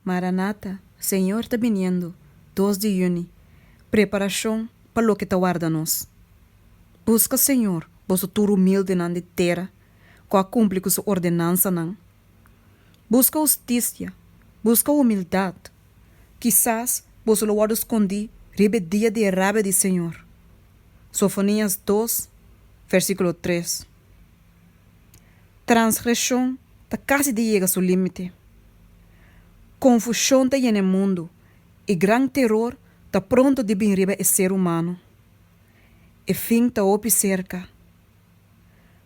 Maranata, Señor ta biniendo, dos di yüni, Preparacion pa loke ta warda nos. Busca Señor, boso tur humildenan di tera, cu a cumpli cu su ordenansanan. Busca husticia, busca humildad, kisas boso lo wordo scondí riba e dia di e rabia di Señor. Sofonias dos, versiculo tres. Transgreshon ta kasi di yega su límite. Konfushon ta yena e mundu, i gran teror ta pronto di bin riba e ser humano. E fin ta hopi serka.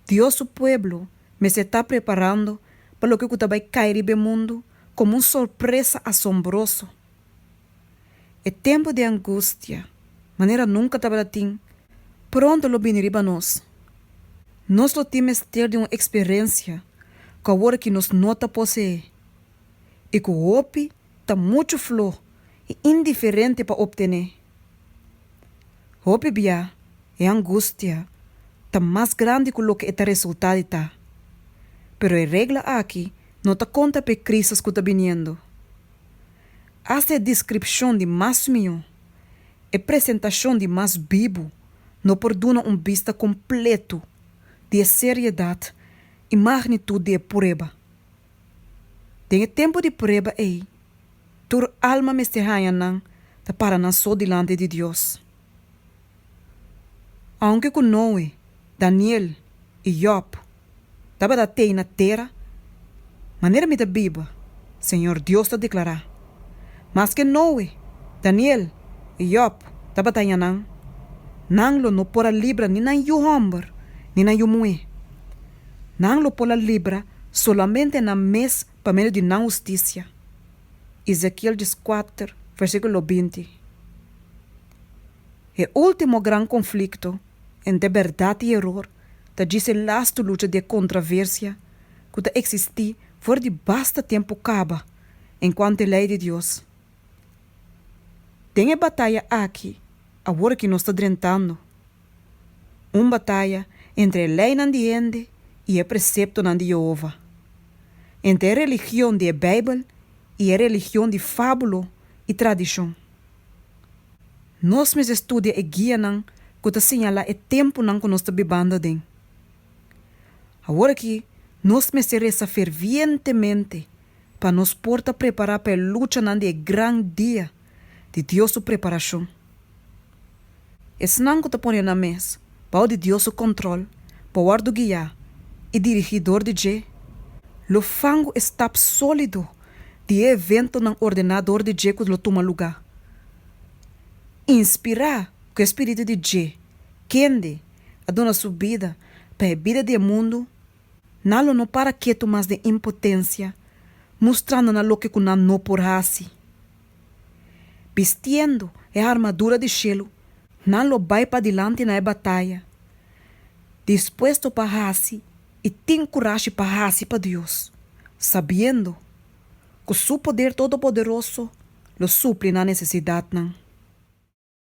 Dios su pueblo mester ta preparando pa loke ku ta bai kai riba e mundu komo un sorpresa asombroso. E tempu di angustia, manera nunka tabata tin, pronto lo bini riba nos. Nos lo tin mester di un eksperensia ku awor aki nos no ta poseé i ku hopi ta muchu flo i indiferente pa optené. Hopi bia e angustia ta mas grandi ku loke e ta resultá di ta. Pero e regla aki no ta konta pa e krísis ku ta biniendo. Hasta e descripcion di mas miho, e presentacion di mas bibu no por duna un bista completo di e seriedad y magnitud di e prueba. Den e tempo di prueba ey, tur alma mester haya nan ta para nan so dilanti di Dios. Aunke ku Noe, Daniel i Yòb tabata t'ei na tera, manera mi ta biba, Señor Dios ta deklará, maske Noe, Daniel i Yòb tabata aña nan, nan lo no por a libra ni nan yu hòmber ni nan yu muhé. Nan lo por a libra solamente nan mes pa medio di nan hustisia. Ezekiel dieskuater, versíkulo binti. E último gran konflikto entre bèrdat i eror ta djis e lastu lucha di e kontraversia ku ta eksistí for di basta tempu kaba enkuanto e Lei di Dios. Den e bataya aki, awor ki nos ta drentando, un bataya entre e leinan di hende i e preseptonan di Yehova, entre e religion di e Beibel i e religion di fábulo i tradishon. Nos mester studia e guianan ku ta siñalá e tempunan ku nos ta bibando aden. Awor aki nos mester resa fervientemente pa nos por ta prepará pa e luchanan di e gran dia di Dios su preparashon. Esnan ku ta pone nan mes bou di Dios su kòntròl por wòrdu guiá i dirigí dor di dje lo fangu e stap sólido di e eventonan ordená dor di dje ku lo tuma lugá. Inspirá ku e spiritu di dje kende a duna su bida pa e bida di e mundu, nan lo no para ketu mas den impotensia, mustrando nan loke ku nan no por hasi. bistiendo e armadura di shelu, nan lo bai padilanti na e bataya, dispuesto pa haci i tin curashi pa haci pa Dios, sabiendo cu su poder todopoderoso lo supli nan necesidadnan.